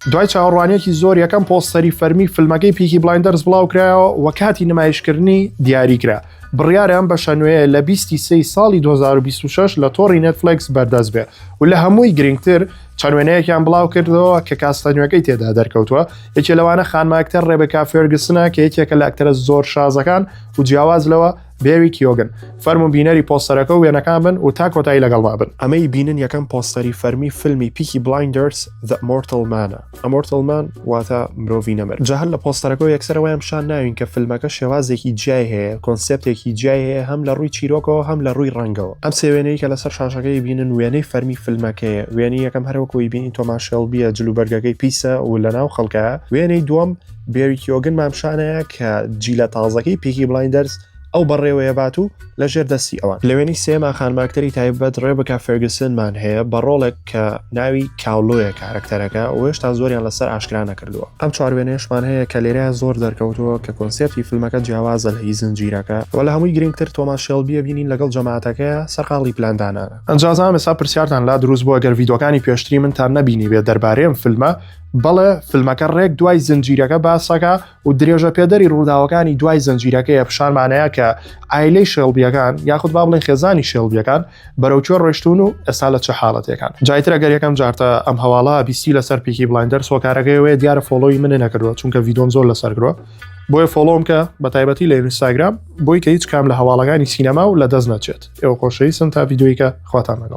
دوای چاوەڕوانیەکی زۆر یەکەم پۆستەری فەرمی فیلمەکەی پیکی بلایندەرز بڵاوکرایەوە و کاتی نمایشکردنی دیاریکرا بڕیارە ئەم بەشە نوێیە لە 20 سی ساڵی 2026 لە تۆڕی نێتفلکس بەردەست بێ و لە هەمووی گرنگتر چەند وێنەیەکیان بڵاو کردەوە کە کاستە نوێەکەی تێدا دەرکەوتووە یەکێ لەوانە خانماکتەر ڕێبکا فێرگسنە کە یەکێکە لە ئەکتەرە زۆر شازەکان و جیاواز لەوە بێری کیۆگن فەرمو بینەری پۆستەرەکە و وێنەکان بن و تا کۆتایی لەگەڵما بن ئەمەی بینن یەکەم پۆستەری فەرمی فیلمی پیکی بلایندرس The Mortal Man ئەمۆرتل مان واتە مرۆڤی نەمر جا هەر لە پۆستەرەکە یەکسەرەوەیان شان ناوین کە فیلمەکە شێوازێکی جیای هەیە کۆنسپتێکی جیای هەیە هەم لە ڕووی چیرۆکەوە هەم لە ڕووی ڕەنگەوە ئەم سێ وێنەی کە لەسەر شاشەکەی بینن وێنەی فەرمی فیلمەکەیە وێنی یەکەم هەروەکوی بینی تۆماشێڵ بیە جلوبەرگەکەی پیسە و لەناو خەڵکە وێنەی دووەم بێری کیۆگن مامشانەیە کە جیلە تازەکەی پیکی بلایندەرز ئەو بەڕێوەیە بات و لە ژێر دەستی ئەوان لەوێنی سێما خانماکتەری تایبەت ڕێبکە فێرگسنمان هەیە بە ڕۆڵێک کە ناوی کاولۆیە کارکتەرەکە وێشتا زۆریان لەسەر ئاشکرا نەکردووە ئەم چواروێنێشمان هەیە کە لێرە زۆر دەرکەوتووە کە کۆنسپتی فیلمەکە جیاوازە لە هی زنجیرەکە و لە هەمووی گرنگتر تۆماس شێڵبیە بینین لەگەڵ جەماعەتەکە سەرقاڵی پلاندانانە ئەنجازام ئێستا پرسیارتان لا دروست بووە گەر ڤیدۆکانی پێشتری من تان نەبینی بێت دەربارەی ئەم فیلمە بەڵێ فلمەکە ڕێک دوای زنجیرەکە باسەکە و درێژە پێدەری ڕووداوەکانی دوای زنجیرەکەیە پیشانمانەیە کە ئایلەی شێڵبیەکان یاخود با بڵێن خێزانی شێڵبیەکان بەرەوکوێ ڕۆشتون و ئێستا لە چه حاڵەتەکان جایترە گەر یەکەم جارتە ئەم هەواڵە بیستی لەسەر پیکی بڵندەر سۆکارەکەیەوەی دیارە فۆڵۆی منێ نەکردوە چونکە ڤیدۆم زۆر لەسەر گرۆ بۆیە فۆڵۆم کە بە تایبەتی لە ئینستاگرام بۆی کە هیچ کام لە هەواڵەکانی سینەما و لە دەست نەچێت ئێوە خۆشەویستم تا ڤیددیویکە خواتان لەگەڵ